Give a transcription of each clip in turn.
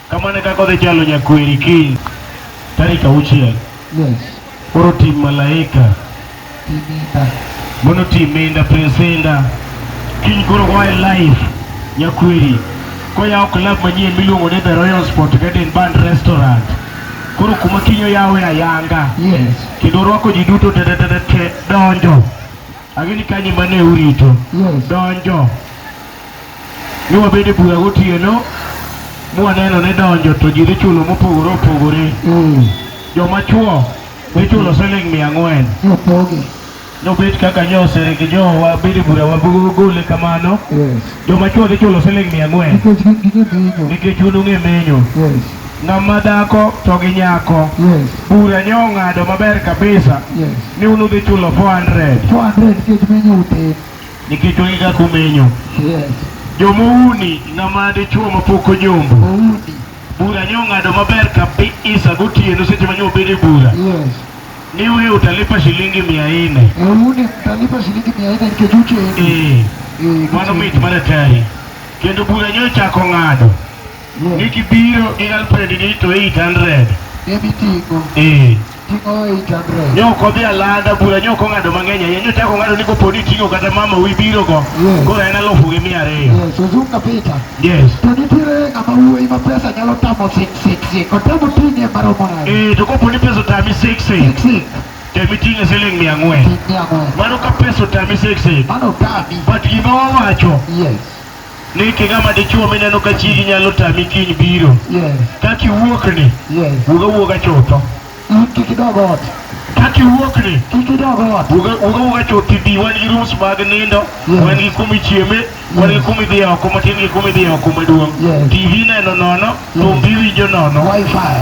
Kamano e kaka odhi chalo nyakweri kiny tarik auchiel. Koro tim malaika mono tim inda presenda kiny koro oa e live nyakweri koyawo club manyien miluongo ni The Royal Sport Garden Band Restaurant koro kuma kiny oyawe ayanga kendo orwako ji duto tetetetete donjo agini kanyi mane urito donjo Ni wabedo e bura gotieno mwaneno ni donjo to ji dhi chulo mopogore opogore. Mm. Joma chuo dhi chulo siling mia ang'wen. Opoge. Nobet kaka nyosere gi jo wabedo e bura wagole kamano. Yes. Joma chuo dhi chulo siling mia ang'wen. Nikech gin gige menyo. Nikech un ung'e menyo. Yes. Ng'ama dhako to gi nyako. Yes. Bura nyo ong'ado maber kabisa. Yes. Ni un udhi chulo 400. 400 nikech menyo utin. Nikech onge kaka omenyo. Yes. Jomouni ng'ama dichuo mapok ojombo. Oudi. Bura nyo ng'ado maber kabisa gotieno seche manyo obed e bura. Yes. Ni wewe utalipa shilingi mia nne. Oudi utalipa shilingi mia nne nikech uchendi. Eh. eh Mano mit mana tari. Kendo bura nyo chako ng'ado. Yes. Nikibiro gi girlfriend ni to 800. Ebitingo. Eh. ne ok odhi alanda bura ne ok ong'ado mang'eny ahinya ne ochako ng'ado ni kopo ni ting'o kata mama wi biro go koro en alufu gi mia ariyo yes to nitiere ng'ama wuoyi ma pesa nyalo tamo sik sik sik otamo ting'e maromo nade eh to kopo ni pesa otami sik sik sik temi ting'e siling mia ang'wen mano ka pesa otami sik sik mano otami but gima wawacho yes ni king'ama dichuo mineno ka chigi nyalo tami kiny biro Yes. kaka iwuokni Yes. wuog awuoga chutho In kik idog ot. kaka iwuokni Kik idog ot. wuog wuog awuoga chuth ibi wan gi rooms mag nindo Yes. wan gi kuma ichieme wan gi kuma idhiye oko matin gi kuma idhiye oko maduong' Yes. tv neno nono thumbi iwinjo nono Wi-Fi.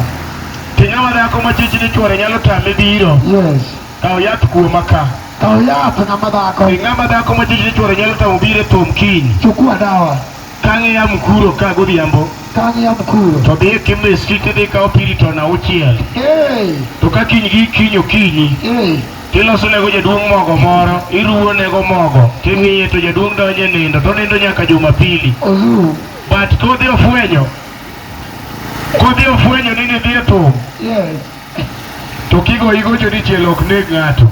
to ng'ama dhako ma chich ni chwore nyalo tame biro Yes. Kaw yath kuoma ka. Kaw yath ng'ama dhako. E ng'ama dhako ma jiji chwore nyalo tamo bire tom kiny. Chukua dawa. Kang'e ya mkuro ka godhiambo. Kang'e ya mkuro. To dhiye kimbe street idhi kaw piri to na uchiel. Hey. To ka kiny gi kiny okinyi. Hey. Tiloso nego jaduong' mogo moro, iruwo nego mogo, timiye to jaduong' donje nindo, to nindo nyaka Jumapili. Olu. But kodhi ofwenyo. Kodhi ofwenyo ni nidhi e thum. Yes. To kigoyi gocho dichiel ok neg ng'ato.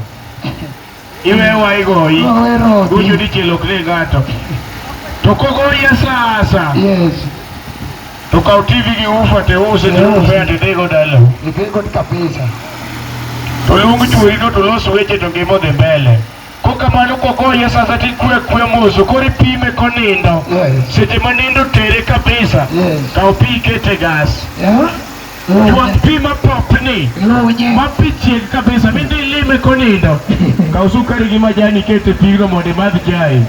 Iwewa igoyi. Gocho dichiel ok neg ng'ato. To kogoyi asasa. Yes. To kaw TV gi ufa te use te ufa te tego dala. Tego kabisa. To luong chuori no to los weche to ngima odhi mbele. kokamano kogoye sasa tikwe kwe moso koro ipime konindo Yes. seche ma nindo tere kabisa Yes. kaw pi ikete gas Yeah? juang pi ma popni Lunye. ma pi chieg kabisa mindi ilime konindo kaw sukari gi majani ikete pigno mondo imadh chai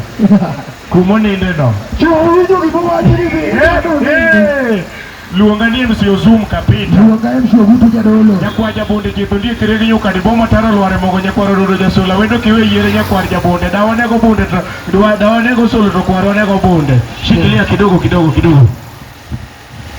kumonindeno Chuo winjo gimowacho ni dhi. Eh, eh. Luonga ni MC Ozum Kapita. Luonga MC Ogutu Jadolo. Nyakwar Jabonde Jitho ndiye kiregi nyuka dibomo taro lware mogo nyakwar ododo jasula wendo kiwe yiere nyakwar Jabonde dawa nego bunde to dwa dawa nego solo to kwar onego bunde. Shikilia kidogo kidogo kidogo.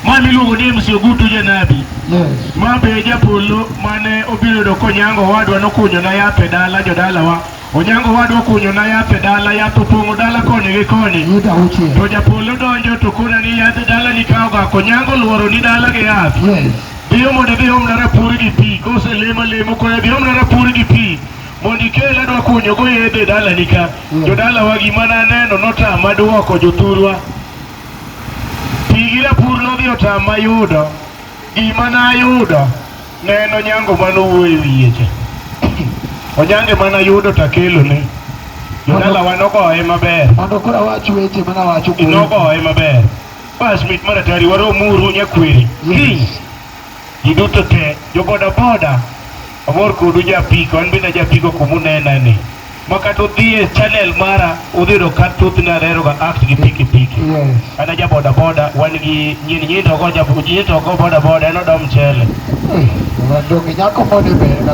Mani luongo ni MC Ogutu Janabi. Yes. Ma be japolo mane obiro do konyango wadwa nokunyo na yape dala jodalawa. Onyango owadwa okunyona yath e dala, yath opong'o dala koni gi koni. Yuda auchiel. To japolo donjo to kona ni yath e dala ni kawo gako. Onyango luoro ni dala gi yath. Yes. Dhiyo mondo idhi omna rapur gi pi. Kose lemo lemo koya dhi omna rapur gi pi. Mondo ikel adwa kunyo go yedhe e dala ni ka. Mm. Jo dala wa gima na neno notama duoko jothurwa. Pi gi rapur nodhi otama yudo. Gima na yudo. Ne en Onyango mane owuoyo e wiye cha. Onyango ema nayudo to akelone. Jodalawa nogoye maber. Mondo koro awach weche mana wacho kuom. Nogoye maber. Bas mit maratari waromuru nyakweri. Kiny. Ji duto te, joboda boda, amor kodu japiko, an bende japiko kumunena ni. makata udhie channel mara udhi yudo ka thothne aleroga act gi piki piki an aja boda boda wan gi nyini nyini to go nyini to go boda boda en odo mchele Donge nyako moni be na